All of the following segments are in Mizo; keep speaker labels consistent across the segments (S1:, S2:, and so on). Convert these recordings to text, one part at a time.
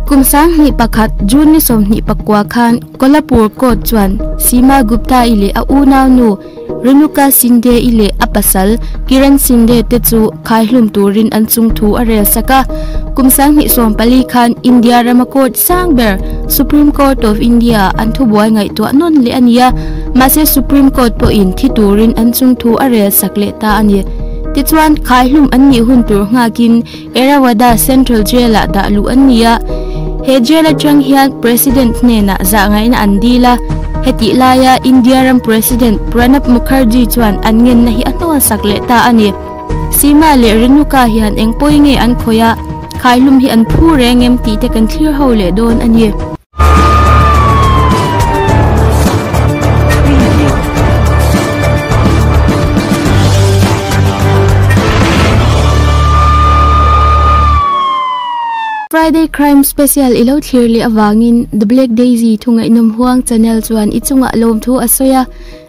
S1: Kum sang hnih pakhat, June ni sawmhnih pakua khan Kolhapur Court chuan Seema Gupta-i leh a unau nu Renuka Shinde-i leh a pasal Kiran Shinde te chu khaihlum turin an chung thu a rel sak a. Kum sang hnih sawm pali khan India rama court sang ber, Supreme Court of India, an thubuai ngaihtuah nawn leh a ni a, mahse Supreme Court pawhin thi turin an chung thu a rel sak leh ta a ni. Tichuan, khaihlum an nih hun tur nghakin, Errawadda Central Jail-ah dah luh an ni a, he jail atang hian President hnenah zahngaihna an dil a. Hetih laia India ram President Pranab Mukherjee chuan an ngenna hi a nawlsak leh ta a ni. Seema leh Renuka hian engpawh i nge an khawih a, khaihlum hi an phu reng em tih te kan thlir ho leh dawn a ni. Friday Crime Special i lo thlir leh avangin The Black Daisy thungainawm huang channel chuan i chungah lawmthu a sawi a.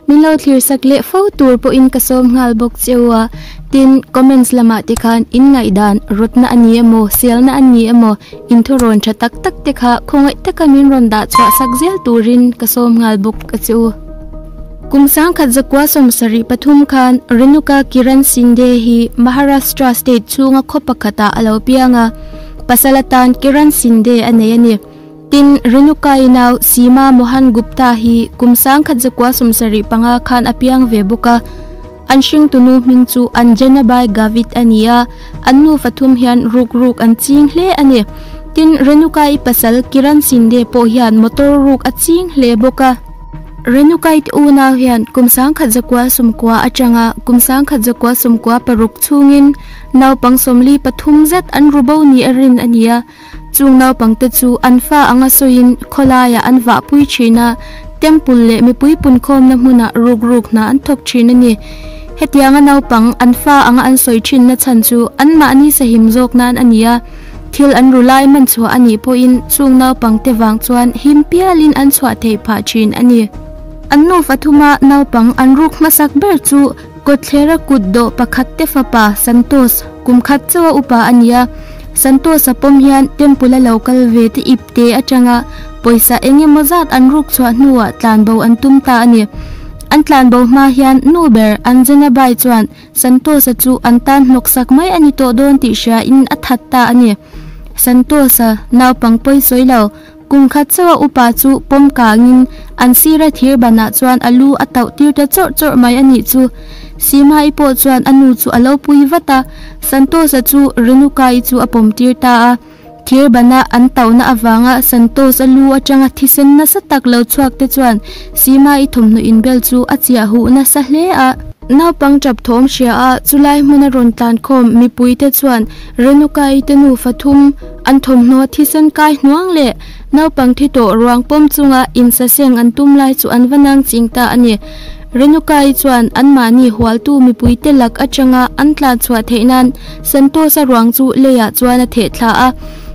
S1: Min lo thlir sak leh fo tur pawhin ka sawm nghal bawk che u a, tin comments lamah te khan in ngaihdan rawtna a ni emaw, sialna a ni emaw inthawrawn tha tak tak te kha khawngaih taka min rawn dah chhuah sak zel turin ka sawm nghal bawk a che u. Kum sangkhat zakua sawm sarih pathum khan Renuka Kiran Shinde hi Maharashtra state chhunga khaw pakhatah a lo piang a, pasal atan Kiran Shinde a nei a ni. Tin, Renuka-i nau Seema Mohan Gupta hi kum sangkhat zakua sawmsarih panga khan a piang ve bawk a. An hringtunu hming chu Anjanabai Gavit a ni a, an nu fathum hian ruk ruk an ching hle a ni. Tin, Renuka-i pasal Kiran Shinde pawh hian motor ruk a ching hle bawk a. Renuka-i unau hian kum sangkhat zakua sawmkua atanga kum sangkhat zakua sawmkua paruk chungin naupang sawmli pathum zet an ru bo nih a rin a ni a. Chung naupang te chu an fa anga sawiin khawlaiah an vah pui thin a, temple leh mipui punkhawmna hmunah ruk ruk hna an thawk thin a ni. Hetianga naupang an fa anga an sawi thinna chhan chu anmah ni sahim zawk nan a ni a, thil an ru lai man chhuah a nih pawhin chung naupang te vang chuan him pialin an chhuah thei phah thin a ni. An nufa thuma naupang an ruk hmasak ber chu Kawthlera kut dawh pakhat te fapa Santos kum khat chauha upa a ni a. Santos a pawm hian temple a lo kal ve te ip te atanga pawisa eng emaw zat an ruk chhuah hnuah tlanbo an tum ta a ni. An tlanbo hma hian nu ber Anjana bai chuan Santos-a chu an tan hnawksak mai a ni tawh dawn tih hria in a that ta a ni. Santos-a naupang pawi sawi lo. Kum khat chauha upa chu pawm kangin an sira thir banah chuan a lu a tauh tir ta chawrh chawrh mai a nih chu. Sîmai pawh chuan a nu chu a lo pui vat a, Santosa chu Renukai chu a pawm tir ta a. Thir bana an tauhna avanga Santos a lu aṭanga thisen nasa tak lo chhuak te chuan Sîmai thawmhnaw inbel chu a chiah huh nasa hle a. Naupang ṭap thawm hria a, chulai hmuna rawn tlankhawm mipui te chuan Renukai te nufa thum, An thawmhnaw thisen kai hnuang leh naupang thi tawh ruang pawm chunga insaseng an tum lai chu an va nang ching ta a ni. Renuka-i chuan anmahni hualtu mipuite lak atanga an tlanchhuah theih nan Santosa ruang chu leiah chuan a theh thla a.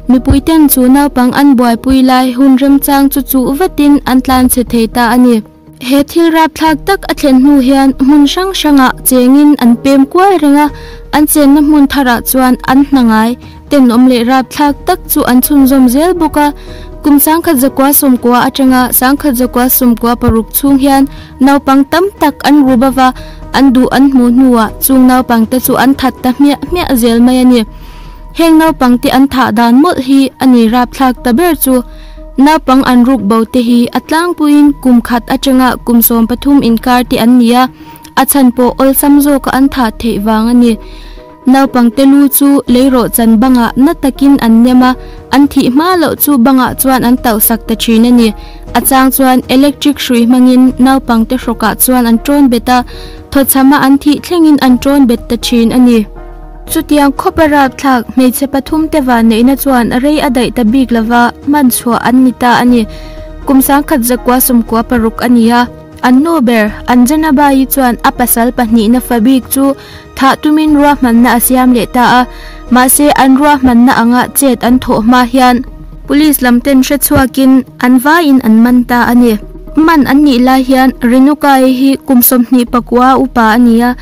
S1: Mipuiten chu naupang an buaipui lai hun remchang chu chuh vatin an tlan chhe thei ta a ni. He thil rapthlak tak a thlen hnu hian hmun hrang hrangah chengin an pem kual reng a, an chenna hmun tharah chuan an hnangai, tenawm leh rapthlak tak chu an chhunzawm zel bawk a. Kum sangkhat zakua sawmkua atanga sangkhat zakua sawmkua paruk chhung hian naupang tam tak an ru bawk a, an duh an hmuh hnuah chung naupangte chu an that ta hmiah hmiah zel mai a ni. Heng naupangte an thah dan mawlh hi a ni rapthlak ta ber chu. Naupang an ruk bo te hi a tlangpuiin kum khat atanga kum sawm pathum inkar te an ni a, a chhan pawh awlsam zawka an thah theih vang a ni. Naupangte lu chu lei rawhchan banga na takin an nem a, an thih hma loh chu bangah chuan an tauh sak ta thin a ni. A chang chuan electric hrui hmangin naupangte hrawkah chuan an ṭawn bet a, thawchhama an thih thlengin an ṭawn bet ta thin a ni. Chutiang khawpa rapthlak hmeichhe pathum te vah neihna chuan rei a daih ta bik lova hman chhuah an ni ta a ni. Kum sangkhat zakua sawmkua paruk a ni a, an nu ber Anjanabai-i chuan a pasal pahnihna fa bik chu thah tumin ruahmanna a siam leh ta a, mahse an ruahmanna anga chet an thawh hma hian Police lam ten hre chhuakin an vaiin an man ta a ni. Hman an nih lai hian Renuka-i hi kum sawmhnih pakua upa a ni a.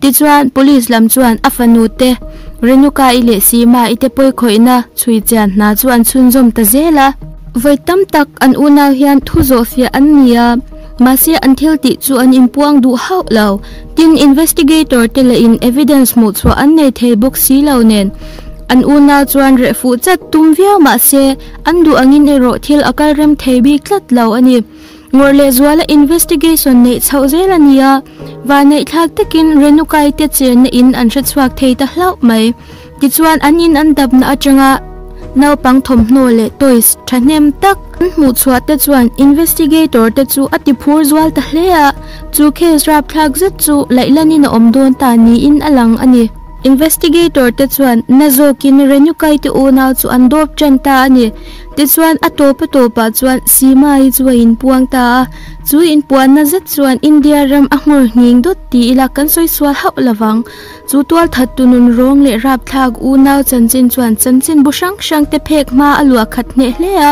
S1: Tichuan, police lam chuan a fanu te, Renuka i leh Sima i te pawi khawihna chhui chian hna chu an chhunzawm ta zel a. Vawi tam tak an unau hian thu zawh fiah an ni a, mahse an thil tih chu an inpuang duh hauh lo. Tin, investigator te leh in evidence hmuhchhuah an nei thei bawk si lo nen, an unau chuan reh fuh chat tum viau mahse, an duh angin erawh thil a kal rem thei bik tlat lo a ni. Ngawr leh zuala investigation neih chhoh zel a ni a, vaneihthlak takin Renukai te chenna in an hrechhuak thei ta hlauh mai. Tichuan an in an dapna atanga naupang thawmhnaw leh toys thahnem tak an hmuhchhuah te chuan investigator te chu a tiphur zual ta hle a, chu case rapthlak zet chu Laihlanina awm dawn ta niin a lang a ni. Investigator te chuan na zawkin Renukai te unau chu an dawp ṭan ta a ni. Tichuan a tawpa tawpah chuan Sima-i chu a inpuang ta a, chu inpuanna zet chuan India ram a nghawr nghing dawt ti ila kan sawi sual hauh lo vang. Chu tualthat tu nun rawng leh rapthlak unau chanchin chuan chanchin bu hrang hrang te phek hma a luah khat hneh hle a,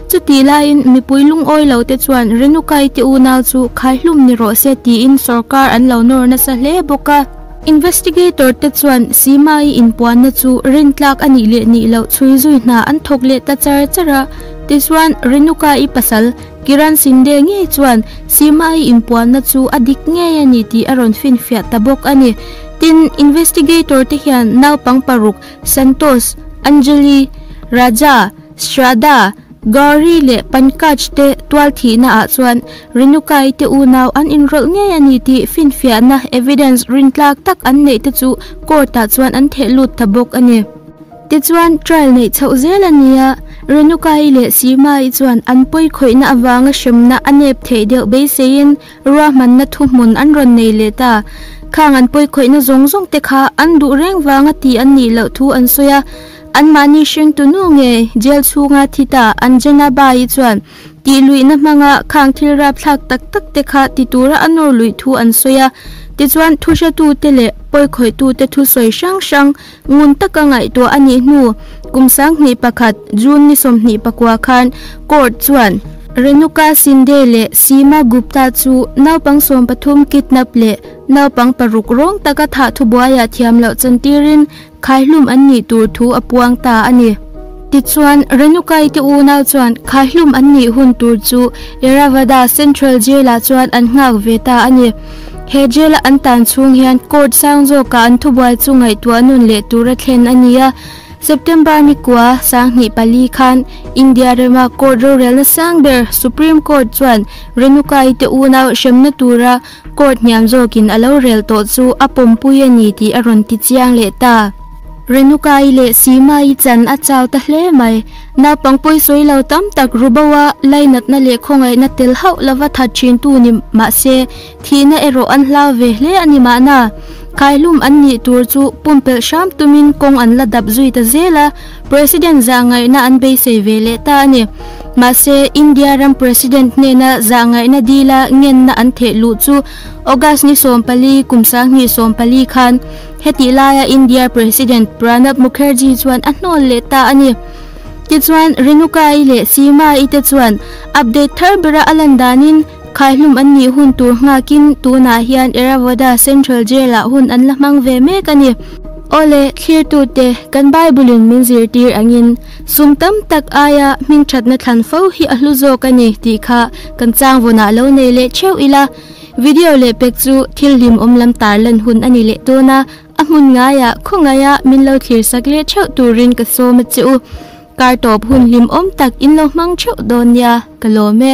S1: chuti laiin mipui lungawi lo te chuan Renuka-i te unau chu khaihlum ni rawh se tiin sorkar an lo nawr nasa hle bawk a. Investigator te chuan Seema-i inpuanna chu Rintlak a nih leh nih loh chhui zui hna an thawk leh ta char char a. Tichuan, Renuka-i pasal, Kiran Shinde ngei chuan Seema-i inpuanna chu a dik ngei a ni tih a rawn finfiah ta bawk a ni. Tin, Investigator te hian naupang paruk, Santosh, Anjali, Raja, Shraddha, Gauri leh Pankaj te tual thihna ah chuan Renukai te unau an inrawlh ngei a ni tih finfiahna, evidence, rin tlak tak an neih te chu court ah chuan an theh lut ta bawk a ni. Tichuan, trial neih chhoh zel a ni a, Renukai leh Seema-i chuan an pawi khawihna avanga hremna a nep theih deuh beiseiin ruahmanna thuhmun an rawn nei let a. Khang an pawi khawihna zawng zawng te kha an duh reng vang a tih an nih loh thu an sawi a. Anmahni hring tunu nge jail chhunga thit a an gen a Bai-i chuan tih luihna hmanga khang thil rapthlak tak tak te kha ti tura a nawr luih thu an sawi a, tichuan thuhratu te leh pawi khawih tu te thu sawi hrang hrang ngun taka ngaihtuah a nih hnu kum sang hnih pakhat June ni sawmhnih pakua khan court chuan Renuka Shinde leh Seema Gupta chu naupang sawmpathum kidnap leh naupang paruk rawng taka thah thubuai ah thiam loh chantirin Khaihlum an nih tur thu a puang ta a ni. Tichuan, Renukaite unau chuan Khaihlum an nih hun tur chu Erravada Central Jail-ah chuan an nghak ve ta a ni. He jail-a an tan chhung hian court sang zawkah an thubuai chu ngaihtuah a nun leh tura thlen a ni a. September mikua sanghnih pali khan India rama court rorelna sang ber Supreme Court chuan Renukaite unau hremna tura Court hniam zawkin a lo rel tawh chu a pawmpui a ni tih a rawn ti chiang leh ta. Renuka-i leh Seema-i chan a chau ta hle mai. Naupang pawisawi lo tam tak Rubo-a lainatna leh khawngaihna tel hauh lova that thintu ni mah se, thihna erawh an hlau ve hle a ni mahna, khaihlum an nih tur chu pumpelh hram tumin kawng an la dap zui ta zel a. President zahngaihna an beisei ve leh ta a ni. Mahse, India ram President hnena zahngaihna dila ngenna an theih luh chu August ni sawm pali, kum sanghnih sawm pali khan. Hetih laia India President Pranab Mukherjee chuan a hnawl leh ta a ni. Tichuan, Renuka-i leh Seema-i te chuan update thar bera a lan danin, Khaihlum an nih hun tur nghâkin tûnah hian Errawadda Central Jail-ah hun an la hmang ve mêk a ni. Aw le, thlirtute, kan Bible-in min zirtîr angin sum tam tak aia hming ṭhatna thlan fo hi a hlu zâwk a ni tih kha kan chângvawnah lo nei leh ṭheuh ila. Video leh pek chu thil hlim awm lam târ lan hun a ni leh dâwn a, a hmun ngaia khawngaiha min lo thlirsak leh ṭheuh tûrin ka sâwm a che u. Kâr tâwp hun hlim awm tak in lo hmang ṭheuh dâwn nia ka lâwm e.